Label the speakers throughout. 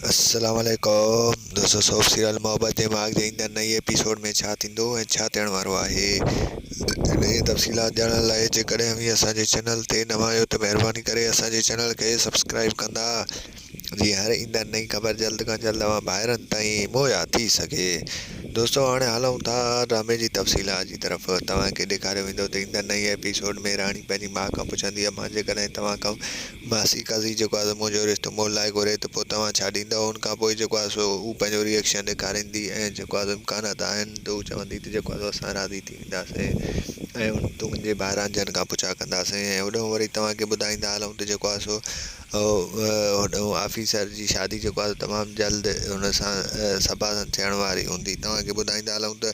Speaker 1: السلام عليڪم دوستو سوپ سيريل محبت جي ماڳ جي ايندڙ نئين ايپيسوڊ ۾ ڇا ٿيندو ۽ ڇا ٿيڻ وارو آهي انهي جي تفصيلات ڄاڻڻ لاء جيڪڏهن اوهين اسان جي چينل تي نوان آهيو ته مهرباني ڪري اسان جي چينل کي سبسڪرائيب ڪندا جيئن هر ايندڙ نئين خبر جلد کان جلد اوهان ڀائرن تائين مهيا ٿي سگهي دوستو هاڻي هلون ٿا ڊرامي جي تفصيلات جي طرف توهان کي ڏيکاريو ويندو ته ايندڙ نئين ايپيسوڊ ۾ راڻي پنهنجي ماء کان پڇندي امان جيڪڏهن توهان کان ماسي قاضي جيڪو آهي سو منهنجو رشتو مئل لاء گهري ته پوء توهان ڇا ڏيندؤ؟ ان کان پوء جيڪو آهي سو هو پنهنجو ري ايڪشن ڏيکاريندي ۽ جيڪو آهي سو امڪانات آهن ته هو چوندي ته جيڪو آهي سو اسان راضي ٿي وينداسين ۽ تنهنجي ڀائران جن کان پڇا ڪنداسين ۽ هوڏانهن وري توهان کي ٻڌائيندا هلون ته جيڪو آهي سو هوڏانهن آفيسر جي شادي جيڪو آهي سو تمام جلد هن سان صبا سان ٿيڻ واري هوندي. توهان کي ٻڌائيندا هلون ته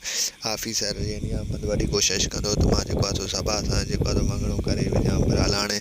Speaker 1: آفيسر يعني احمد وڏي ڪوشش ڪندو ته مان جيڪو آهي سو صبا سان جيڪو آهي سو مڱڻو ڪري وڃان پر الاڻي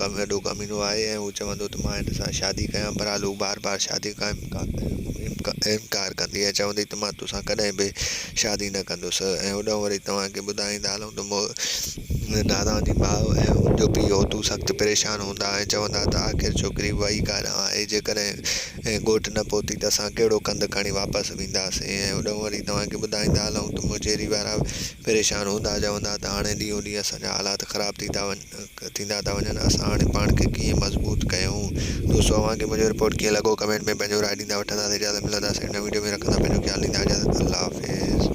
Speaker 1: ڪم وڏو ڪمينو آهي ۽ هو چوندو ته مان هن سان شادي ڪيان بهرحال هو بار بار شادي کان انڪار ڪندي ۽ چوندي ته مان توسان ڪڏهن به شادي نه ڪندس ۽ هوڏانهن وري توهان کي ٻڌائيندا هلون ته نادان جي ماء ۽ هن جو پيء اوتو سخت پريشان هوندا ۽ چوندا ته آخر ڇوڪري وئي ڪاڏانهن آهي جيڪڏهن ڳوٺ نه پهتي ته اسان ڪهڙو ڪنڌ کڻي واپس وينداسين ۽ هوڏانهن وري توهان کي ٻڌائيندا هلون ته مجيري وارا پريشان هوندا چوندا ته هاڻي ڏينهون ڏينهن اسان جا حالات خراب ٿي ٿا وڃن. ٿيندا ٿا وڃن اسان هاڻي پاڻ کي ڪيئن مضبوط ڪيون. دوستو اوهان کي منهنجو رپورٽ ڪيئن لڳو ڪمينٽ ۾ پنهنجو راء ڏيندا وٺنداسين اجازت ملنداسين نئين وڊيو ۾ رکندا پنهنجو خيال ڏيندا اجازت الله حافظ.